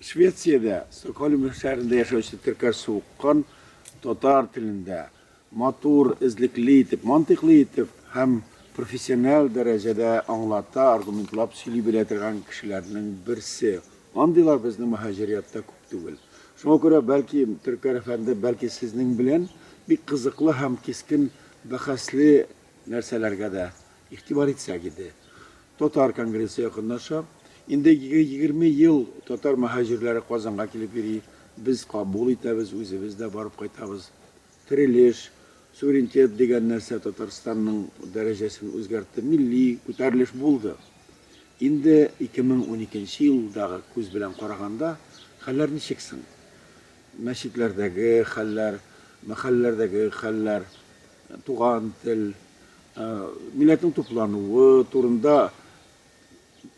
Швециядә, Стокгольм шәһәрендә яшәүче теркәш суыккан татар телендә матур, эзлекле итеп, мантыйклы итеп һәм профессиональ дәрәҗәдә аңлата, аргументлап сөйли белә торган кешеләрнең берсе. Андыйлар безнең мөһаҗириятта күп түгел. Шуңа күрә, бәлки, Төркәр әфәнде, бәлки, сезнең белән бик кызыклы һәм кискен бәхәсле нәрсәләргә дә игътибар итсәк иде. Татар конгрессы якынлаша. Инде егерме ел татар мөһаҗирләре Казанга килеп йөри. Без кабул итәбез, үзебез дә барып кайтабыз. Терелеш, суверенитет дигән нәрсә Татарстанның дәрәҗәсен үзгәртте, милли күтәрелеш булды. Инде 2012 елдагы күз белән караганда, хәлләр ничек соң? Мәчетләрдәге хәлләр, мәхәлләләрдәге хәлләр, туган тел, Милләтнең туплануы турында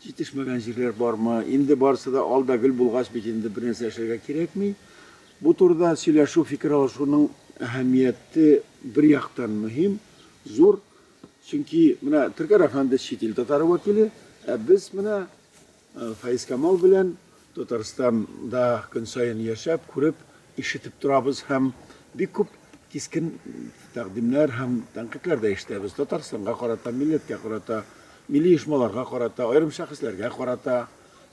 җитешмәгән җирләр бармы? Инде барысы да ал да гөл булгач бит инде бернәрсә эшләргә кирәкми. Бу турыда сөйләшү, фикер алышуның әһәмияте бер яктан мөһим, зур. Чөнки менә Төркәр әфәнде чит ил татары вәкиле, ә без менә Фәизкамал белән Татарстанда көн саен яшәп, күреп, ишетеп торабыз һәм бик күп кискен тәкъдимнәр һәм тәнкыйтьләр дә ишетәбез. Татарстанга карата, милләткә карата, милли оешмаларга карата, аерым шәхесләргә карата.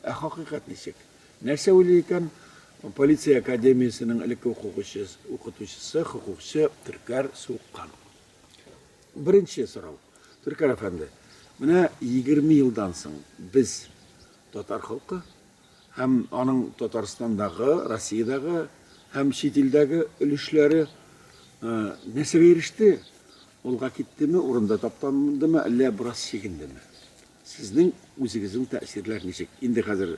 Ә хакыйкать ничек? Нәрсә уйлый икән полиция академиясенең элекке укучысы, хокукчы Төркәр Суккан? Беренче сорау. Төркәр әфәнде, менә 20 елдан соң без татар халкы һәм аның Татарстандагы, Россиядәге һәм чит илдәге өлешләре э, нәрсәгә иреште? Олга киттеме, урында таптандымы, әллә бераз чигендеме? Сезнең үзегезнең тәэсирләр ничек? Инде хәзер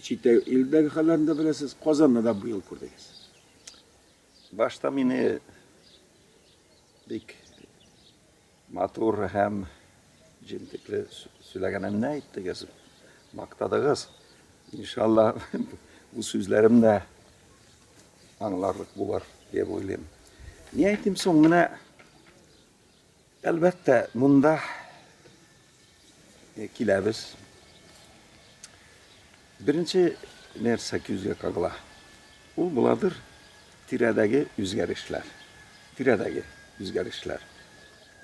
чит илдәге хәлләрен дә беләсез, Казанны да быел күрдегез. Башта мине бик матур һәм җентекле сөйләгәнемне әйттегез, мактадыгыз. Иншалла бу сүзләрем дә аңларлык булыр дип уйлыйм. Ни әйтим соң менә Әлбәттә, монда киләбез. Беренче нәрсә күзгә кагыла. Ул буладыр тирәдәге үзгәрешләр. Тирәдәге үзгәрешләр.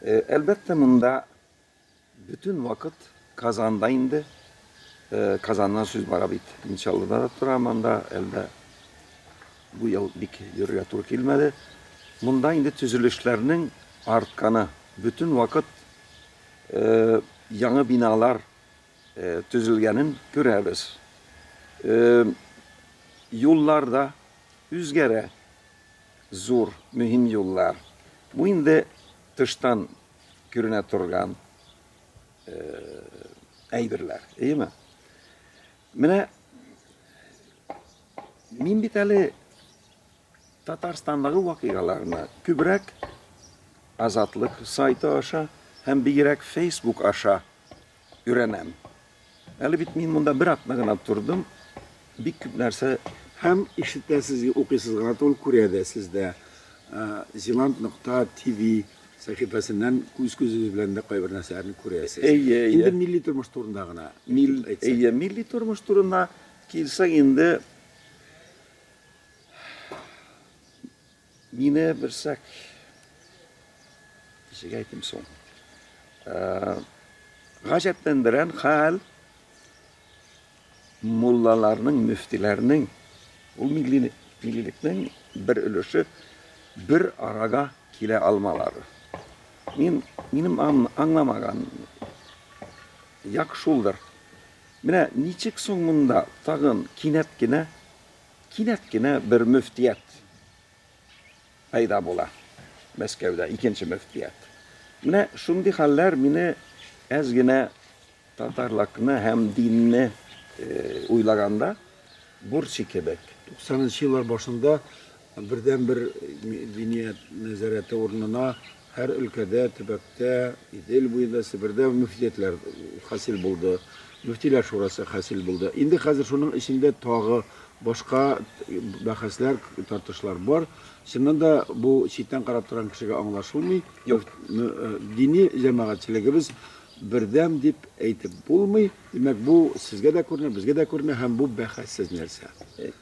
Әлбәттә, монда бөтен вакыт Казанда инде Казаннан сүз бара бит. Мин Чаллыда да торам анда, әлдә Бу ел бик йөрергә туры килмәде. Монда инде төзелешләрнең артканы. Бөтен вакыт яңы биналар төзелгәнен күрәбез. Юллар да үзгәрә. Зур, мөһим юллар. Бу инде тыштан күренә торган әйберләр, әйеме? Менә. Мин бит әле Татарстандагы вакыйгаларны күбрәк Азатлык сайты аша һәм бигрәк Facebook аша өйрәнәм. Әле бит мин монда бер атна гына тордым, бик күп нәрсә һәм ишетәсез, укыйсыз гына түгел, күрә дә сез дә. Зеланд нокта ТВ сәхифәсеннән күз күзегез белән дә кайбер нәрсәләрне күрәсез. Әйе, әйе. Инде милли тормыш турында гына. Мил, әйе, милли тормыш турында Килсәң инде, мине берсәк ничек әйтим соң? Гаҗәпләндерән хәл муллаларның, мөфтиләрнең, ул милли миллилекнең бер өлеше бер арага килә алмалары. Мин минем аңламаган як шулдыр. Менә ничек соң монда тагын кинәт кенә, кинәт кенә бер мөфтият пәйда була, Мәскәүдә икенче мөфтият. Менә шундый хәлләр мине әз генә татарлыкны һәм динне уйлаганда, бурчый кебек. Туксанынчы еллар башында Бердәнбер Мединият нәзарәте урынына һәр өлкәдә, төбәктә, Идел буенда, Себердә мөфтиятләр хасил булды, мөфтиләр шурасы хасил булды. Инде хәзер шуның эчендә тагы башка бәхәсләр, тартышлар бар. Чыннан да бу читтән карап торган кешегә аңлашылмый. Юк. Дини җәмәгатьчелегебез бердәм дип әйтеп булмый. Димәк, бу сезгә дә күренә, безгә дә күренә һәм бу бәхәссез нәрсә.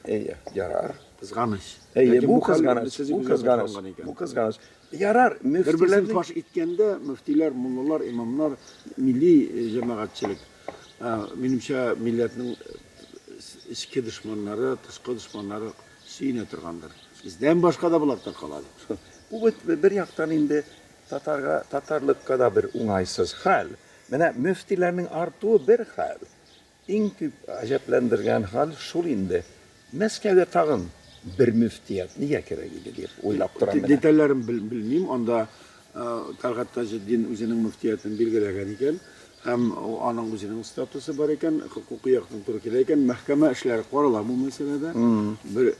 Әйе, ярар. Кызганыч. Әйе, бу кызганыч, бу кызганыч, бу кызганыч. Ярар, мөфтиләрне бер фаш иткәндә, мөфтиләр, муллалар, имамнар, милли э, җәмәгатьчелек, э, минемчә, милләтнең э, эчке дошманнары, тышкы дошманнары сөенә торгандыр. Бездән башка да болар таркала дип. Бу бит бер яктан инде татарга, татарлыкка да бер уңайсыз хәл. Менә мөфтиләрнең артуы бер хәл. Иң күп гаҗәпләндергән хәл шул инде, Мәскәүгә тагын бер мөфтият нигә кирәк иде дип уйлап торам менә. Детальләрен белмим, анда Тәлгать Таҗетдин үзенең мөфтиятен билгеләгән икән һәм аның үзенең статусы бар икән, хокукый яктан туры килә икән, мәхкәмә эшләре карала бу мәсьәләдә. Бер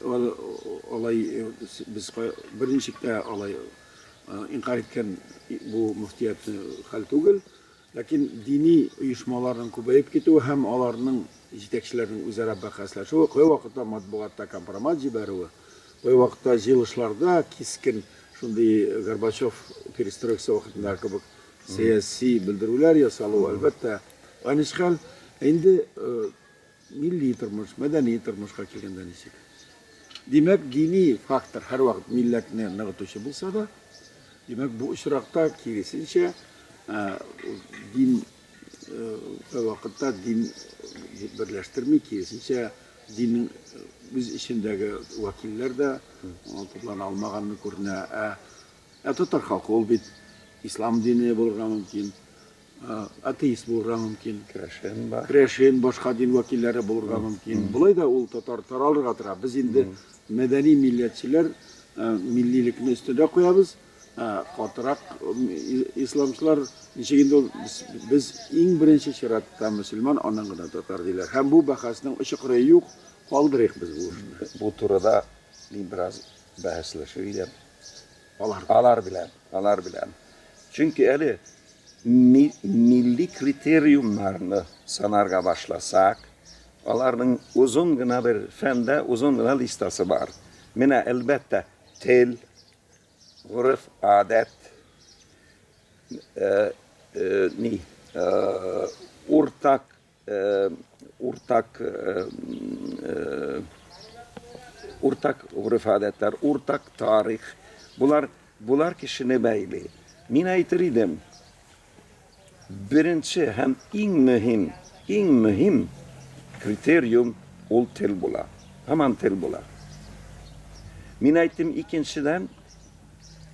алай без берничек тә алай инкарь иткән бу мөфтиятне хәл түгел. Ләкин дини оешмаларның күбәеп китүе һәм аларның җитәкчеләренең үзара бәхәсләшүе, кайвакытта матбугатта компромат җибәрүе, кайвакытта җыелышларда кискен шундый Горбачев перестройкасы вакытындагы кебек сәяси белдерүләр ясалуы, әлбәттә, аныч хәл. Ә инде Милли тормыш, мәдәни тормышка килгәндә ничек? Димәк, дини фактор һәрвакыт милләтне ныгытучы булса да, димәк, бу очракта киресенчә, дин вакытта дин берләштерми, киресенчә, диннең үз эчендәге вәкилләр дә туплана алмаганны күренә. Ә татар халкы ул бит ислам дине булырга мөмкин. Атеист булырга мөмкин. Керәшен бар. Керәшен, башка дин вәкилләре булырга мөмкин. Болай да ул татар таралырга тора. Без инде мәдәни милләтчеләр миллилекне өстендә куябыз. Катырак исламчылар ничек инде ул без иң беренче чиратта мөселман, аннан гына татар диләр. Һәм бу бәхәснең очы кырые юк. Калдырыйк без бу эшне. Бу турыда мин бераз бәхәсләшер идем. Алар. Алар белән. Алар белән. Чөнки әле ми, милли критериумнарны санарга башласак, аларның озын гына бер фәндә озын гына листасы бар. Менә, әлбәттә, тел, гореф, адәт, э, э, ни, э, уртак Уртак уртак гореф-гадәтләр, уртак тарих. Болар болар кешене бәйли. Мин әйтер идем, беренче һәм иң мөһим, иң мөһим критериум ул тел була. Һаман тел була. Мин әйттем, икенчедән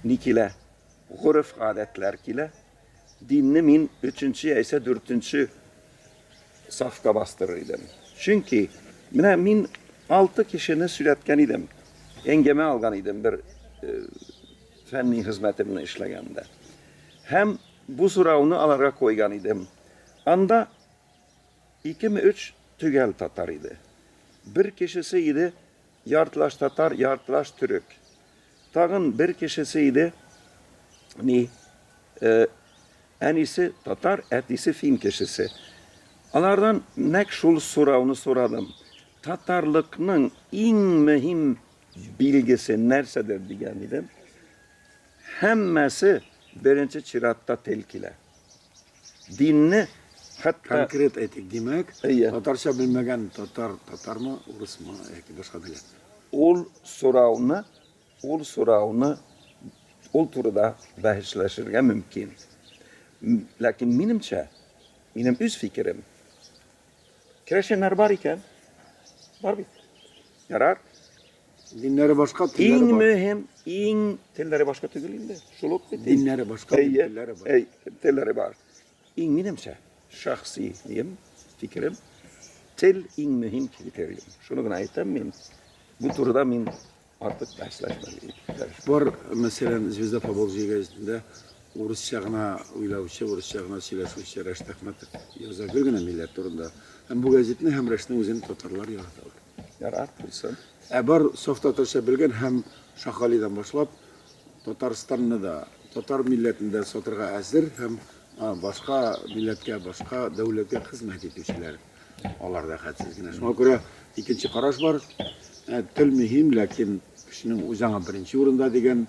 ни килә? Гореф-гадәтләр килә. Динне мин өченче яисә дүртенче сафка бастырыр идем. Чөнки менә мин алты кешене сөйләткән идем. Әңгәмә алган идем бер э, фәнни хезмәтемне эшләгәндә. Һәм бу сорауны аларга куйган идем. Анда икеме өч төгәл татар иде. Бер кешесе иде Яртылаш татар, яртылаш төрек. Тагын бер кешесе иде. Ни, э, әнисе татар, әтисе фин кешесе. Алардан нәк шул сорауны сорадым. Татарлыкның иң мөһим билгесе нәрсәдер дигән идем. Һәммәсе беренче чиратта тел килә. Динне хәтта... Конкрет әйтик, димәк, татарча белмәгән татар, татармы, урысмы, яки башка милләт? Ул сорауны, ул сорауны, ул турыда бәхәсләшергә мөмкин. Ләкин минемчә, минем үз фикерем, керәшеннәр бар икән, бар бит. Ярар, Диннәре башка, телләре Иң бар. мөһим, иң телләре башка түгел инде. Шул ук бит. Диннәре башка, Әйе, телләре бар. әй, телләре бар. Иң минемчә, шәхси дим, фикерем, тел иң мөһим критерий. Шуны гына әйтәм мин. Бу турыда мин артык бәхәсләшмәдем. Бар, мәсәлән, Звезда Поволжья газетында Урысча гына уйлаучы, урысча гына сөйләшүче Рәшит Әхмәтов яза гел генә милләт турында. Һәм бу гәзитне һәм Рәшитнең үзен татарлар яраталар. Ярат булсын. Ә бар саф татарча белгән һәм Шакалидан башлап Татарстанны да, татар милләтен дә сатырга әзер һәм башка милләткә, башка дәүләткә хезмәт итүчеләр алар да хәтсез генә. Шуңа күрә икенче караш бар. Тел мөһим, ләкин кешенең үзе аңа беренче урында дигән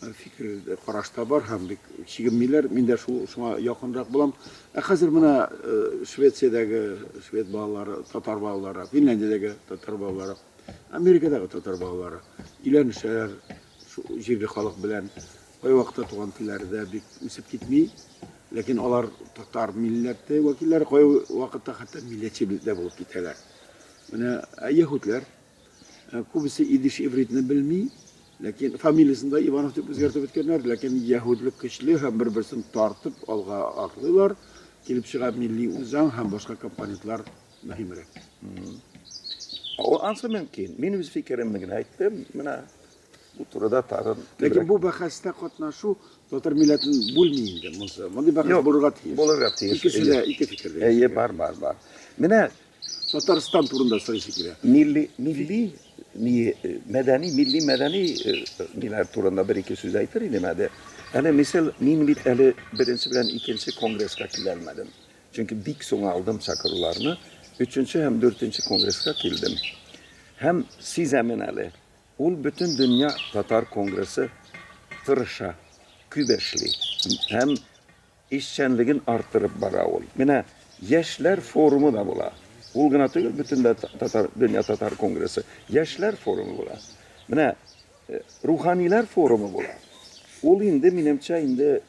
фикер караш та бар һәм бик чигенмиләр. Мин дә шул шуңа якынрак булам. Ә хәзер менә э, Швециядәге швед балалары, татар балалары, Финляндиядәге татар балалары, Америкадагы татар балалары өйләнешәләр, җирле халык белән кайвакытта туган телләрдә бик үсеп китми. Ләкин алар татар милләте вәкилләре кайвакытта хәтта милләтче дә булып китәләр. Менә яһүдләр, Ә күбесе идиш-ивритны белми, ләкин фамилиясен дә Иванов дип үзгәртеп беткәннәр, ләкин яһүдлек көчле һәм бер-берсен тартып алга атлыйлар, килеп чыга милли үзаң һәм башка компонентлар мөһимрәк. Ул ансы мөмкин. Мин үз фикеремне генә әйттем, менә бу турыда тагын. Ләкин бу бәхәстә катнашу татар милләтен бүлми инде монсы. Мондый бәхәс булырга тиеш. Булырга тиеш. Икесе дә ике фикердә. Әйе, бар, бар, бар. Менә Татарстан турында сорыйсы килә. Милли, милли, мәдәни, милли, мәдәни ниләр турында бер-ике сүз әйтер идем әле. Әле, мисал, мин бит әле беренче белән икенче конгресска килә алмадым. Чөнки бик соң алдым чакыруларны. Өченче һәм дүртенче конгресска килдем. Һәм сизәмен әле, ул бөтен дөнья татар конгрессы тырыша, күп эшли. Һәм Эшчәнлеген арттырып бара ул. Менә Яшьләр форумы да була. Ул гына түгел, бөтенләй татар, дөнья татар конгрессы. Яшьләр форумы була. Менә руханиләр форумы була. Ул инде, минемчә, инде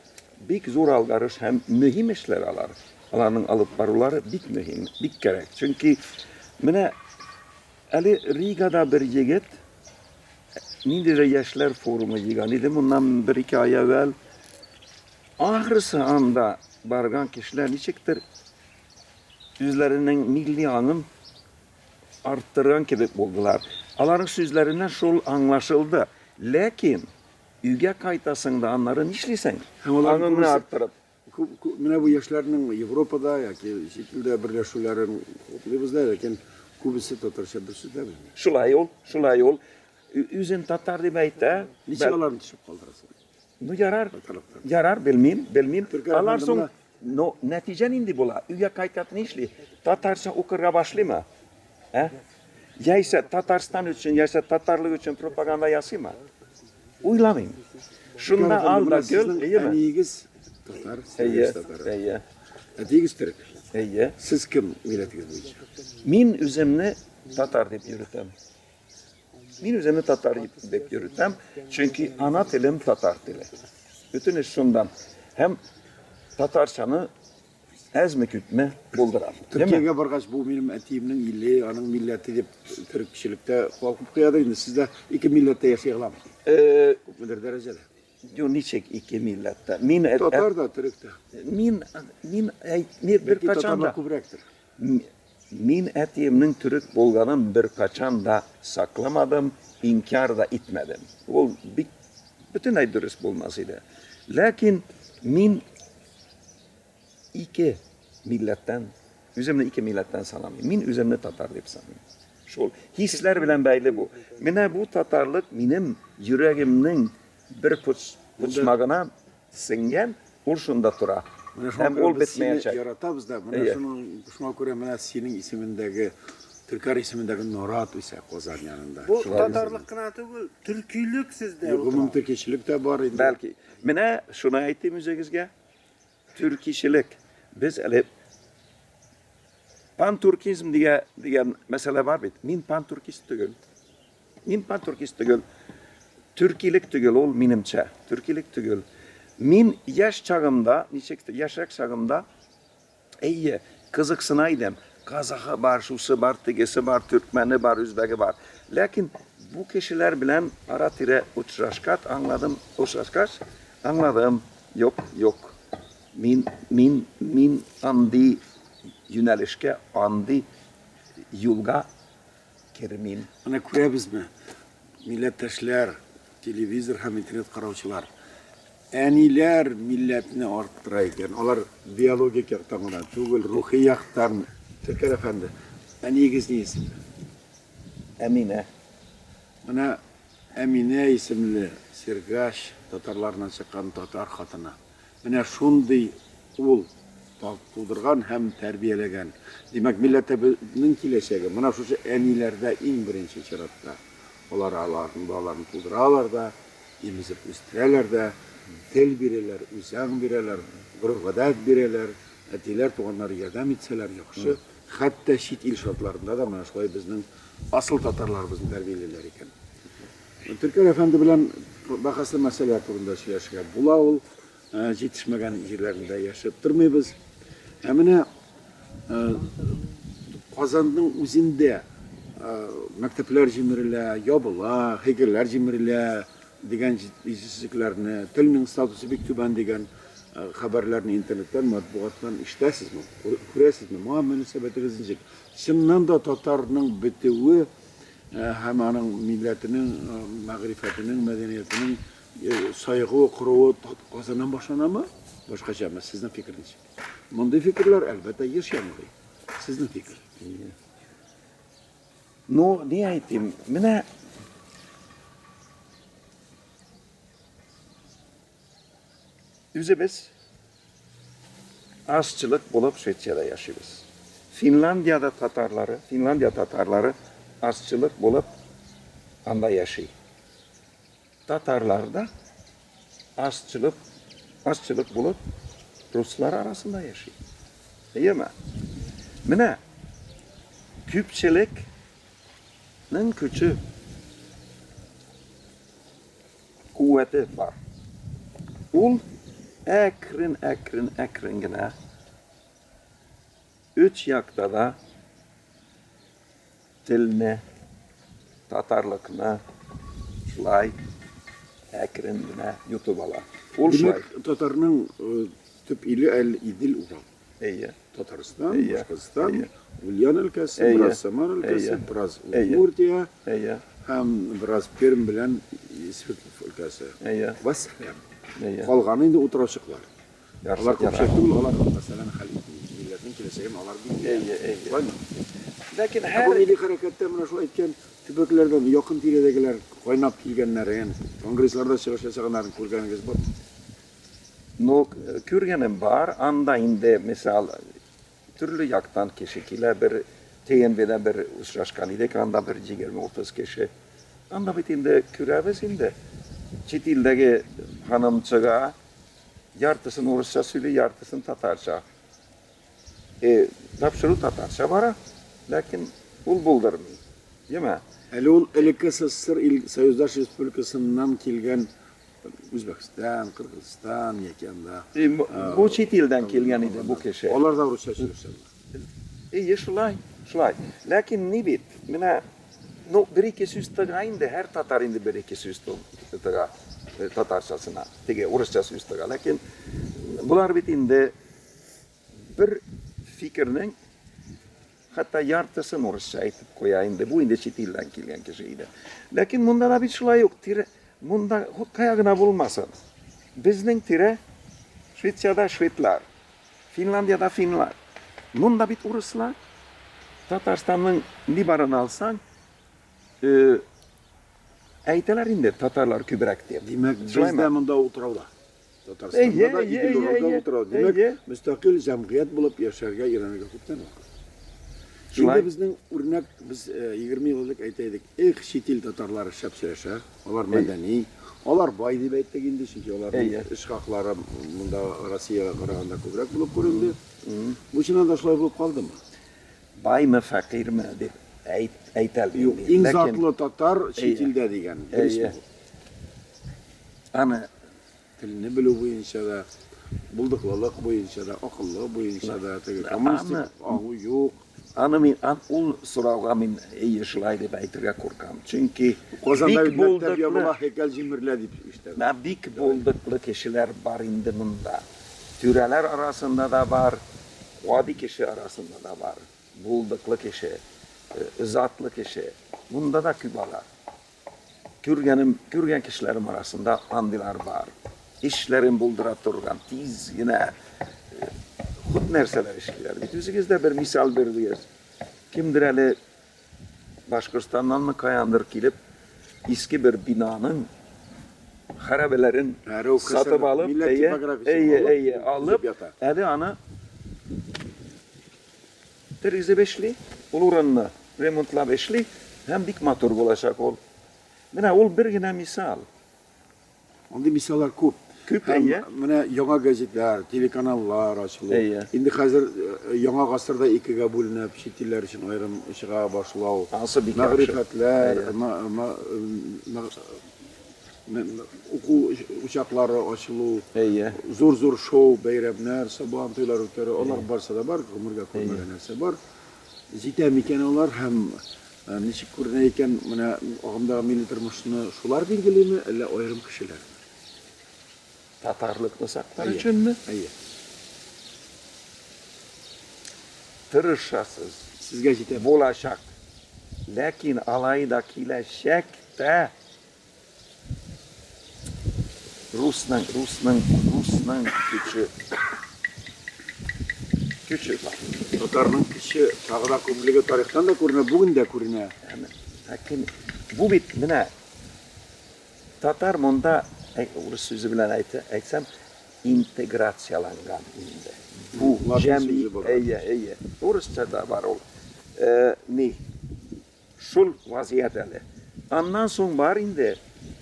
бик зур алгарыш һәм мөһим эшләр алар. Аларның алып барулары бик мөһим, бик кәрәк. Чөнки менә әле Ригада бер егет ниндидер яшьләр форумы җыйган иде моннан бер-ике ай әвәл. Ахрысы, анда барган кешеләр ничектер үзләренең милли аңын арттырган кебек булдылар. Аларның сүзләреннән шул аңлашылды. Ләкин өйгә кайтасың да аннары нишлисең? Һәм алар Аңыңны күбесе- арттырып. Күп, күп, менә бу яшьләрнең Европада яки чит илдә берләшүләрен хуплыйбыз да, ләкин күбесе татарча бер сүз дә белми. Шулай ул, шулай ул. Ө- Үзен татар дип әйтә. Ничек Бәл- аларны төшереп калдырасың? Ну ярар, ярар, белмим, белмим. Алар соң, ну, нәтиҗә нинди була? Өйгә кайтып ни эшли? Татарча укырга башлыймы? Ә? Яисә Татарстан өчен, яисә татарлык өчен пропаганда ясыймы? Уйламыйм. Шунда алда гел, әйеме? Әниегез татар, сез татар. Әйе. Әтиегез төрек. Әйе. Сез кем милләтегез буенча? Мин үземне татар дип йөртәм. Мин үземне татар дип йөртәм, чөнки ана телем татар теле. Бөтен эш шундан. Һәм татарчаны әзме күпме булдырам. Төркиягә баргач, бу минем әтиемнең иле, аның милләте дип төрекчелектә калкып куяды. Инде сездә ике милләттә яши аламыз. Э, Күпмедер дәрәҗәдә. Ю ничек ике милләттә? Мин татар да, төрек тә. Мин мин әйтмир бер качан да. Күбрәктер. Мин әтиемнең төрек булганын беркайчан да сакламадым, инкяр да итмәдем. Ул бик бөтенләй дөрес булмас иде. Ләкин мин ике милләттән, үземне ике милләттән санамыйм. Мин үземне татар дип саныйм. Шул хисләр белән бәйле бу. Менә бу татарлык минем йөрәгемнең бер почмагына Сеңгән, ул шунда тора. Һәм ул бетмәячәк. Яратабыз да, менә шуның, шуңа күрә менә синең исемендәге, Төркар исемендәге нарат үсә Казан янында. Бу татарлык кына түгел, төркилек сездә. Гомум төркичелек тә бар инде. Бәлки. Менә шуны әйтим үзегезгә. Төркичелек. Без әле пантуркизм дигән мәсьәлә бар бит. Мин пантуркист түгел. Мин патуркист түгел, төркилек түгел ул, минемчә, төркилек түгел. Мин яшь чагымда, ничек яшьрәк чагымда, әйе, кызыксына идем. Казахы бар, шусы бар, тегесе бар, төркмәне бар, үзбәге бар. Ләкин бу кешеләр белән ара-тирә очрашкат аңладым, очрашкач аңладым, юк, юк. Мин, мин, мин андый юнәлешкә, андый юлга кермим. Менә күрәбезме, милләттәшләр, телевизор һәм интернет караучылар, әниләр милләтне арттыра икән. Алар биологик яктан гына түгел, рухи яктан. Тәкәр әфәнде, әниегез ни исемле? Әминә. Менә Әминә исемле Сергач татарларына чыккан татар хатыны. Менә шундый ул тудырган һәм тәрбияләгән. Димәк, милләтебезнең киләчәге менә шушы әниләрдә иң беренче чиратта. Алар аларның балаларын тудыралар да, имезеп үстерәләр дә, тел бирәләр, үзаң бирәләр, гореф-гадәт бирәләр. Әтиләр, туганнар ярдәм итсәләр яхшы. Хәтта чит ил шартларында да менә шулай безнең асыл татарларыбызны тәрбиялиләр икән. Төркер әфәнде белән бәхәсле мәсьәлә турында сөйләшергә була ул. Җитешмәгән җирләрендә яшәп тормыйбыз. Ә менә Казанның үзендә мәктәпләр җимерелә, ябыла, һәйкәлләр җимерелә дигән җитешсезлекләрне, телнең статусы бик түбән дигән хәбәрләрне интернеттан, матбугаттан ишетәсезме, күрәсезме? Моңа мөнәсәбәтегез ничек? Чыннан да татарның бетүе Һәм аның милләтенең мәгърифәтенең, мәдәниятенең саегуы, коруы Казаннан башланамы, башкачамы, сезнең фикерегез ничек? Мондый фикерләр, әлбәттә, еш яңгырый. Сезнең фикер. Ну, ни әйтим, менә Үзебез азчылык булып Швециядә яшибез. Финляндиядә татарлары, Финляндия татарлары азчылык булып анда яши. Татарлар да азчылык, азчылык булып руслар арасында яши. Әйеме? Менә күпчелекнең көче куәте бар. Ул әкрен, әкрен, әкрен генә өч якта да телне, татарлыкны шулай әкрен генә йотып ала. Ул шулай. Димәк, татарның э, төп иле әле Идел Урал. Әйе. Татарстан, Әйе. Башкортстан, Әйе. Ульян өлкәсе, Әйе. бераз Самар өлкәсе, Әйе. бераз Әйе. Удмуртия Әйе. һәм бераз Пермь белән Свердлов өлкәсе. Әйе. Вәссәлам. Әйе. Калганы инде утырачыклар. Ярсып Алар яра. күпчелек түгел, алар мәсьәләне хәл итми. Милләтнең киләчәген алар билгели. Әйе, әйе. Шулаймы? Ләкин Ә бу һәр милли хәрәкәттә менә шулай әйткән төбәкләрдән якын тирәдәгеләр кайнап килгәннәрен, конгрессларда чыгыш ясаганнарын күргәнегез бармы? Ну, күргәнем бар, анда инде, мисал, төрле яктан кеше килә, бер ТНВда бер очрашкан идек, анда бер 20-30 кеше. Анда бит инде күрәбез инде. Чит илдәге ханым чыга, яртысын урысча сөйли, яртысын татарча. Э, тапшыру татарча бара, ләкин ул булдырмый. Яме. Әле ул элекке СССР ил Союздаш Республикасыннан килгән Үзбәкстан, Кыргызстан яки анда. И, бу, бу чит илдән килгән иде бу кеше. Алар да русча сөйләшәләр. Ие, шулай, шулай. Ләкин ни бит, менә, ну, бер-ике сүз тыга инде, һәр татар инде бер-ике сүз тыга э, татарчасына, теге урысча сүз тыга. Ләкин болар бит инде бер фикернең Хәтта яртысын урысча әйтеп куя инде, бу инде чит илдән килгән кеше иде. Ләкин монда да бит шулай ук, тирә, монда хут кая гына булмасын. Безнең тирә Швециядә шведлар, Финляндиядә финлар. Монда бит урыслар. Татарстанның ни барын алсаң, әйтәләр инде татарлар күбрәк дип. Димәк, бездә монда утрауда. Татарстанда да идел уразда утыра. Димәк, мөстәкыйль җәмгыять булып яшәргә өйрәнергә күптән вакыт. Шулай безнең үрнәк без 20 ел элек әйтә идек, эх, чит ил татарлары шәп сөйләшә, алар мәдәни, алар бай дип әйттек инде, чөнки аларның эш хаклары монда Россиягә караганда күбрәк булып күренде. Бу чыннан да шулай булып калдымы? Баймы, фәкыйрьме дип әйтәләр. Иң затлы татар чит илдә дигән. Әмма телне белү буенча да, булдыклылык буенча да, акыллы буенча да, теге коммунистик агу юк. Аны мин, ан, ул сорауга мин әйе шулай дип әйтергә куркам. Чөнки Казанда бик булдыклы, ябыла, һәйкәл җимерелә дип ишетәм. Ә бик булдыклы кешеләр бар инде монда. Түрәләр арасында да бар, гади кеше арасында да бар. Булдыклы кеше, затлы кеше. Монда да күп алар. Күргәнем, күргән кешеләрем арасында андыйлар бар. Эшләрен булдыра торган, тиз генә күп нәрсәләр эшлиләр. Бит үзегез дә бер мисал бирдегез. Кемдер әле Башкортстаннанмы каяндыр килеп, иске бер бинаның хәрабәләрен сатып алып, әйе, әйе, әйе, алып, әле аны Тергезеп эшли, ул урынны ремонтлап эшли һәм бик матур булачак ул. Менә ул бер генә мисал. Андый мисаллар күп. Күп, әйе. Менә яңа газетлар, телеканаллар ачылу. Әйе. Инде хәзер э, яңа гасырда икегә бүленеп, чит илләр өчен аерым чыга башлау. Ансы бик яхшы. Мәгърифәтләр, Уку учаклары ачылу, зур-зур шоу, бәйрәмнәр, сабан туйлар үткәрү, алар барса да бар, гомергә күрмәгән нәрсә бар. Җитә микән алар һәм ничек күренә икән, менә агымдагы милли тормышны шулар билгелиме, әллә аерым кешеләр? Татарлыкны саклар өченме? Әйе. Тырышасыз. Сезгә җитә. Булачак. Ләкин алай да киләчәктә Русның, русның, русның көче. Көче бар. Татарның көче тагы да күплеге тарихтан да күренә, бүген дә күренә. Әкин, бу бит менә татар монда, урыс сүзе белән әйтсәм, интеграцияланган инде. Бу җәмгыять, әйе, әйе. Урысча да бар ул. Э, ни? Шул вазият әле. Аннан соң бар инде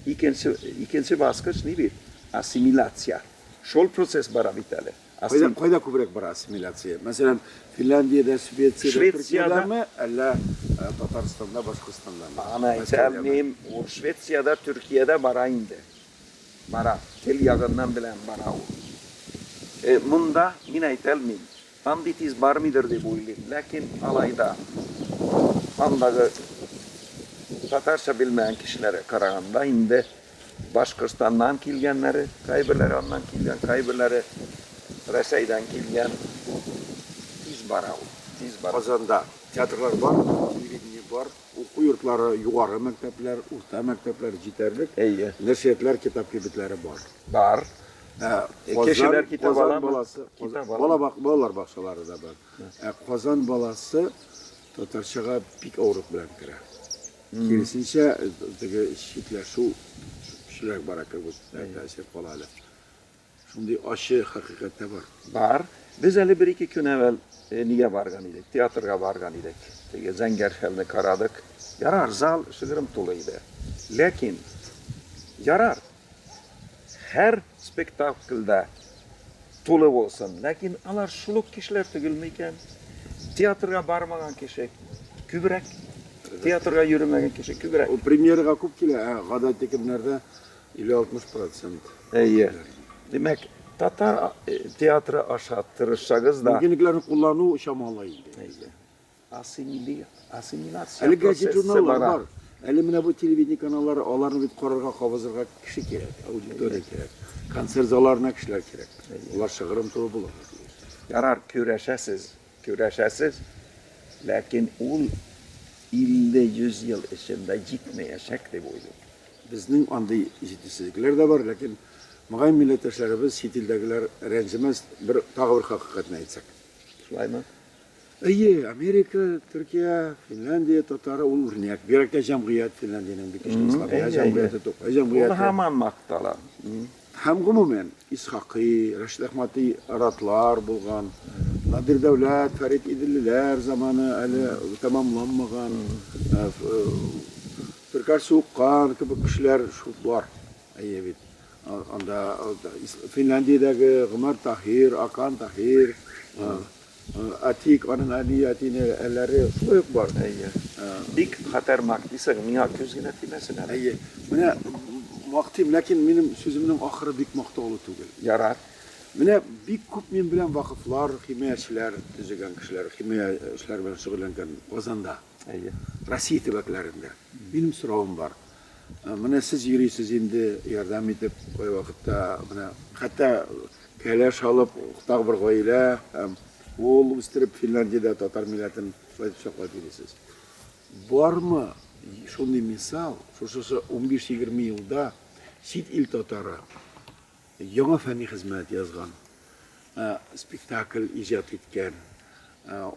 икенче, икенче баскыч ни бит? Ассимиляция. Шул процесс бара бит әле. Кайда, кайда күбрәк бара ассимиляция? Мәсәлән, Финляндиядә, Швециядә, Швециядә... Төркиядәме, әллә э, Татарстанда, Башкортстандамы? Аны әйтәм, мин ул Швециядә, Төркиядә бара инде. Бара. Тел ягыннан белән бара ул. Э, монда мин әйтәлмим. Андый тиз бармыйдыр дип уйлыйм, ләкин алай да андагы татарча белмәгән кешеләргә караганда инде Башкортстаннан килгәннәре, кайберләре аннан килгән, кайберләре Рәсәйдән килгән, тиз бара ул, тиз бара. Казанда театрлар бар, телевидение бар, уку йортлары, югары мәктәпләр, урта мәктәпләр җитәрлек. Әйе. Нәшриятлар, китап кибетләре бар. Бар. Ә Казан, Кешеләр китап Казан аламы? баласы, Китап Казан- аламы? бала бак- балалар бакчалары да бар. Ә Казан баласы татарчага бик авырлык белән керә. Киресенчә, э, теге читләшү көчлерәк бара кебек тә- тәэсир кала әле. Шундый ачы хакыйкать тә бар. Бар. Без әле бер-ике көн әвәл э, нигә барган идек? Театрга барган идек. Теге Зәңгәр шәлне карадык. Ярар, зал шыгрым тулы иде. Ләкин ярар, Һәр спектакль дә тулы булсын. Ләкин алар шул ук кешеләр түгелме икән? Театрга бармаган кеше күбрәк, театрга йөремәгән кеше күбрәк. Ул премьерага күп килә, ә гадәти көннәрдә 50-60%. Әйе. Димәк, татар театры аша тырышсагыз да. Мөмкинлекләрне куллану чамалы инде. Әйе. Ассимиляция Әле газет-журналлар бар. Әле менә бу телевидение каналлары, аларны бит карарга, кабызырга кеше кирәк, аудитория кирәк. Концерт залларына кешеләр кирәк. Алар шыгрым туры булырга тиеш. Ярар, көрәшәсез, көрәшәсез, ләкин ул 50-100 ел эчендә җитмәячәк дип уйлыйм. Безнең андый җитешсезлекләр дә бар, ләкин, мөгаен, милләттәшләребез, чит илдәгеләр рәнҗемәс, бер, тагы бер хакыйкатьне әйтсәк. Шулаймы? Әйе, Америка, Төркия, Финляндия татары ул үрнәк. Бигрәк тә җәмгыять Финляндиянең бик көчле слабия җәмгыяте тук. Җәмгыять. Ул һаман мактала. Һәм гомумән Исхакый, Рәшид Әхмәти ратлар булган. Надир Дәүләт, Фәрит Иделлеләр заманы әле тәмамланмаган. Төркәр Суыккан кебек кешеләр шул бар. Әйе бит. Анда Финляндиядәге Гомәр Таһир, Акан Таһир, Әтиек, аның әни, әтине әләре шулай ук бар. Әйе. Бик хәтәр мак дисең, миңа күз генә тимәсен әле. Әйе. Менә мактыйм, ләкин минем сүземнең ахыры бик мактаулы түгел. Ярар. Менә бик күп мин белән вакыфлар, химиячеләр төзегән кешеләр, химия эшләре белән шөгыльләнгән Казанда. Әйе. Россия төбәкләрендә. Минем соравым бар. Менә сез йөрисез инде, ярдәм итеп, кайвакытта менә хәтта кәләш алып, тагы бер гаилә һәм ул үстереп Финляндиядә татар милләтен шулай итеп саклап йөрисез. Бармы шундый мисал, шушы 15-20 елда чит ил татары Яңа фәнни хезмәт язган, спектакль иҗат иткән,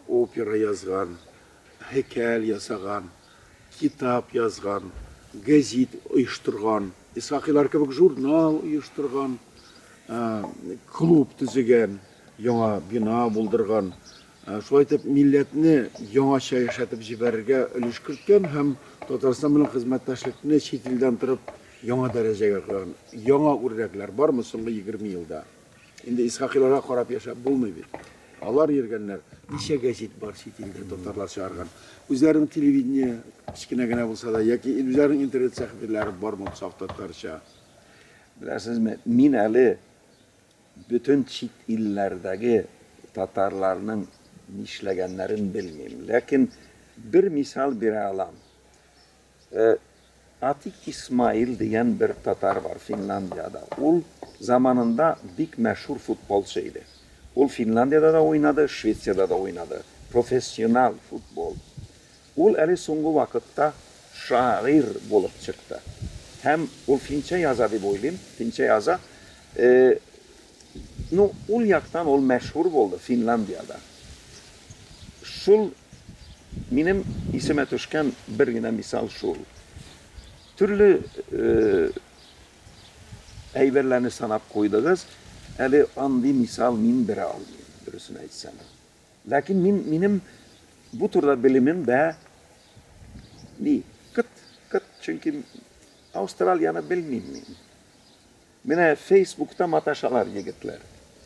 опера язган, һәйкәл ясаган, китап язган, гәзит оештырган, Исхакыйлар кебек журнал оештырган, клуб төзегән, яңа бина булдырган, Шулай итеп, милләтне яңача яшәтеп җибәрергә өлеш керткән һәм Татарстан белән хезмәттәшлекне чит илдән торып яңа дәрәҗәгә куйган яңа үрнәкләр бармы соңгы егерме елда? Инде Исхакыйларга карап яшәп булмый бит. Алар йөргәннәр. Ничә гәзит бар чит илдә татарлар чыгарган? Үзләренең телевидение кечкенә генә булса да яки үзләренең интернет сәхифәләре бармы саф татарча? Беләсезме, мин әле Бөтен чит илләрдәге татарларның нишләгәннәрен белмим, ләкин бер мисал бирә алам. Атик Исмаил дигән бер татар бар Финляндиядә. Ул заманында бик мәшһүр футболчы иде. Ул Финляндиядә дә уйнады, Швециядә дә уйнады. Профессиональ футбол. Ул әле соңгы вакытта шагыйрь булып чыкты. Һәм ул финчә яза дип уйлыйм, финчә яза. Э, ну, ул яктан ул мәшһүр булды, Финляндиядә. Шул минем исемә төшкән бер генә мисал шул. Төрле э, әйберләрне санап куйдыгыз, әле андый мисал мин бирә алмыйм, дөресен әйтсәм. Ләкин мин, минем бу турыда белемем дә ни, кыт, кыт, чөнки Австралияны белмим мин. Менә Фейсбукта маташалар егетләр.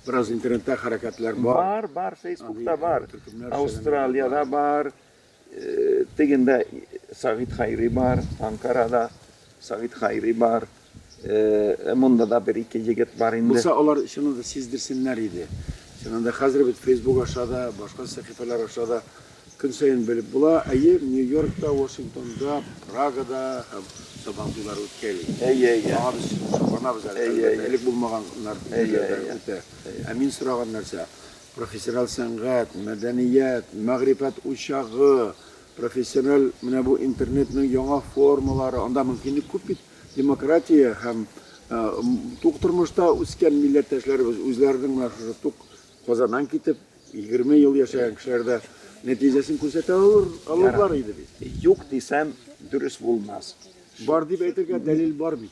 Бераз интернетта хәрәкәтләр бар. Бар, бар, Фейсбукта бар. Австралияда бар, Тегендә Сагыйт Хәйри бар, Анкарада Сагыйт Хәйри бар. Монда да бер-ике егет бар инде. Булса, алар чыннан да сиздерсеннәр иде. Чыннан да хәзер бит Facebook аша да, башка сәхифәләр аша да көн саен белеп була. Әйе, Нью-Йоркта, Вашингтонда, Прагада һәм Сабан туйлары үткәли. Әйе, әйе. Аңа без шатланабыз әле. Әлбәттә, элек булмаганнар күпләр үтә. Ә мин сораган нәрсә, Профессиональ сәнгать, мәдәният, мәгърифәт учагы, профессиональ менә бу интернетның яңа формалары, анда мөмкинлек күп бит. Демократия һәм тук тормышта үскән милләттәшләребез үзләренең менә шушы тук Казаннан китеп, 20 ел яшәгән кешеләр дә нәтиҗәсен күрсәтә алыр, алырлар иде бит. Юк дисәм, дөрес булмас. Бар дип әйтергә дәлил бар бит.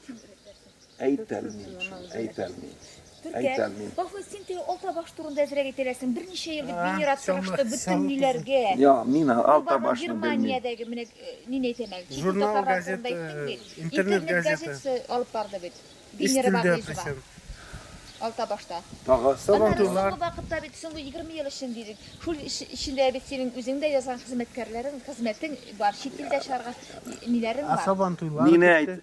Әйтәлмим шул, әйтәлмим. Төркә, бахмы син теге алта баш турында әзрәк әйтәләсең. Берничә ел дип генерат сорашты бөтен ниләргә. Я, мин алта башны белмим. Германиядәге менә нин әйтәм әле, чит татарлар турында әйттең бит. Интернет газетасы алып барды бит. Генерат Барнизова. Алта башта. Тагы сабан туйлар. Аннары соңгы вакытта бит, соңгы 20 ел өчен дидек. Шул эчендә бит синең үзең дә язган хезмәткәрләрең, хезмәтең бар, чит илдә чыгарган ниләрең бар. Сабан туйлар. Мине әйт.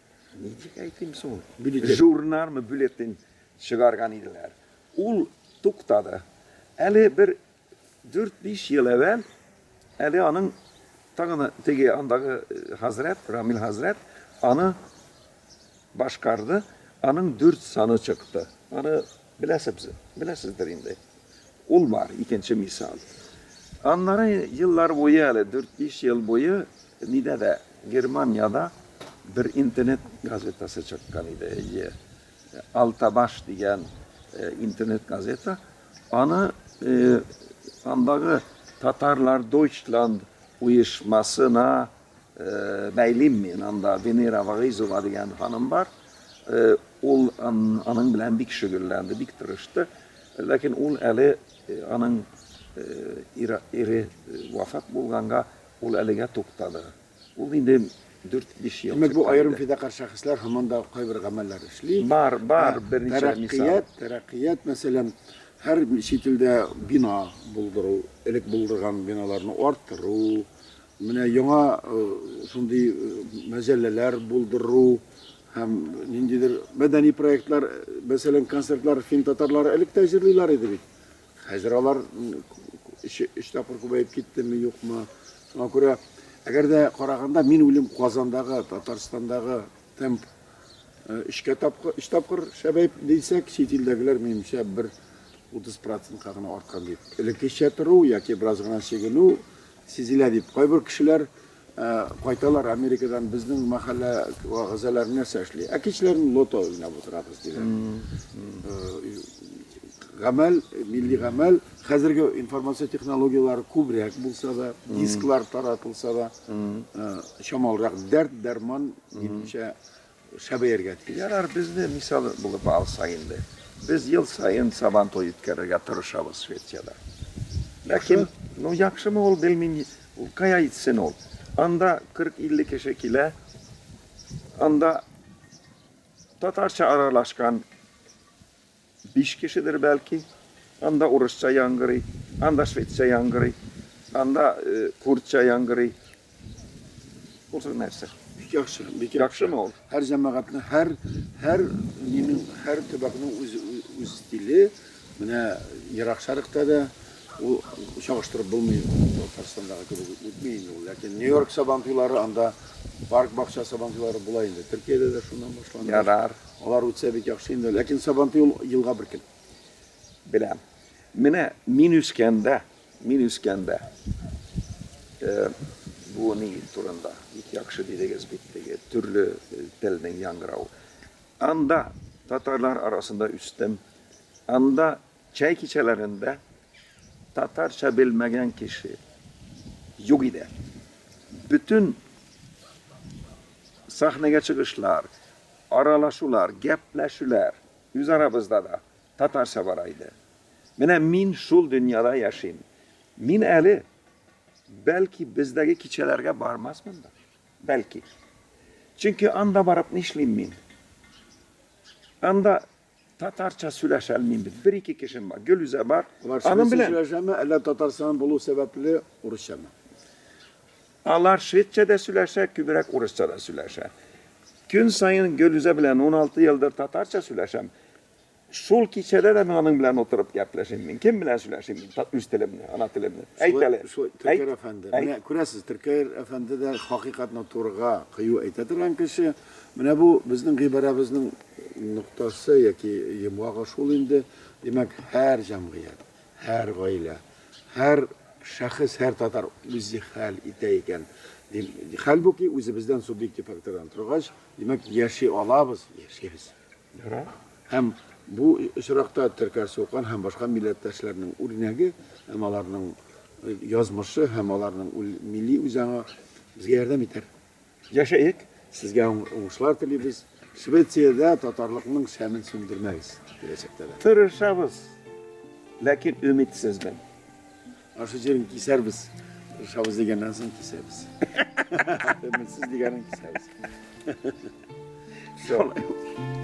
Ничек әйтим соң? Бюллетень. Журналмы, бюллетень чыгарган иделәр. Ул туктады. Әле бер 4-5 ел әвәл, әле аның тагын теге андагы э, хәзрәт, Рамил хәзрәт аны башкарды, аның дүрт саны чыкты. Аны Беләсебз, беләсездер инде. Ул бар, икенче мисал. Аннары еллар буе әле, дүрт-биш ел буе нидә дә, Германияда бер интернет газетасы чыккан иде, әйе. Алтабаш дигән интернет газета. Аны андагы Татарлар Дойчланд оешмасына бәйлим мин анда Венера Вагыйзова дигән ханым бар. Ул аның белән бик шөгыльләнде, бик тырышты. Ләкин ул әле аның ире вафат булганга ул әлегә туктады. Ул инде 4-5 ел. Димәк, бу аерым фидакарь шәхесләр һаман да кайбер гамәлләр эшли. Бар, бар, берничә мисал. Тәрәккыят, мәсәлән, һәр чит илдә бина булдыру, элек булдырган биналарны арттыру, Менә яңа шундый мәҗәлләләр булдыру һәм ниндидер мәдәни проектлар, мәсәлән, концертлар фин татарлары элек тә җырлыйлар иде бит. Хәзер алар өч тапкыр күбәеп киттеме, юкмы? Шуңа күрә, әгәр дә караганда, мин уйлыйм, Казандагы, Татарстандагы темп өчкә тапкыр, өч тапкыр шәбәеп дисәк, чит илдәгеләр минемчә бер 30 процентка гына арткан дип. Элеккечә тору яки бераз гына чигенү Сизелә, дип, кайбер кешеләр кайталар Америкадан, безнең мәхәллә вәгазәләр нәрсә эшли? Ә кичләрен лото уйнап утырабыз, диләр. Гамәл, милли гамәл, хәзерге информация технологияләре күбрәк булса да, дисклар таратылса да, чамалырак дәрт-дәрман, минемчә, Шәбәергә дип. Ярар, безне мисал булып алсак инде. Без ел саен Сабан туе үткәрергә тырышабыз Швециядә. Ләкин, ну, яхшымы ул, белмим, ул кая итсен ул. Анда 40-50 кеше килә, анда татарча аралашкан, Биш кешедер, бәлки. Анда урысча яңгырый, анда шведча яңгырый, анда курдча яңгырый. Ул сүз нәрсә? Бик яхшы, бик яхшы. Яхшымы ул? Һәр җәмәгатьнең, һәр һәр минем һәр төбәкнең үз үз стиле. Менә Ерак Шәрыкта да ул чагыштырып булмый, Татарстандагы кебек үтми инде ул. Ләкин Нью-Йорк сабантуйлары, анда парк бакча сабантуйлары була инде. Төркиядә дә шуннан башланды. Ярар. Алар үтсә бик яхшы инде, ләкин Сабантуй ул елга бер көн. Беләм. Менә мин үскәндә, мин үскәндә, э, бу ни турында бик яхшы дидегез бит теге төрле э, телнең яңгырау. Анда татарлар арасында үстем. Анда чәй кичәләрендә татарча белмәгән кеше юк иде. Бөтен сәхнәгә чыгышлар, Аралашулар, гәпләшүләр үзарабызда да татарча бара иде. Менә мин шул дөньяда яшим. Мин әле, бәлки, бездәге кичәләргә бармасмын да. Бәлки. Чөнки анда барып нишлим мин? Анда Татарча сөйләшә алмыйм бит. Бер-ике кешем бар. Гөлүзә бар. Алар Аның белән сөйләшәме, әллә Татарстан булу сәбәпле урысчамы? Алар шведча да сөйләшә, күбрәк урысча да сөйләшә. Көн саен Гөлүзә белән 16 елдыр татарча сөйләшәм. Шул кичәдә дә мин аның белән утырып гәпләшим. Мин кем белән сөйләшим мин үз телемне, ана телемне? Әйт әле. Шулай, Төркер әфәнде. Менә күрәсез, Төркер әфәнде дә хакыйкатьне турыга кыю әйтә торган кеше. Менә бу безнең гыйбарәбезнең ноктасы яки йомгагы шул инде. Димәк, һәр җәмгыять, һәр гаилә, һәр шәхес, һәр татар үзе хәл итә икән. Хәлбуки үзебездән субъектив фактордан торгач, димәк, яши алабыз, яшибез. Һәм бу очракта Теркәр Сукан һәм башка милләттәшләрнең үрнәге һәм аларның язмышы һәм аларның милли үзаңы безгә ярдәм итәр. Яшәек! Сезгә уңышлар телибез. Швециядә татарлыкның шәмен сүндермәгез киләчәктә дә. Тырышабыз, ләкин өмитсезмен. Ашы җирен кисәрбез. Тырышабыз дигәннән соң кисәбез. Өмитсез дигәнен кисәбез. Шулай ул.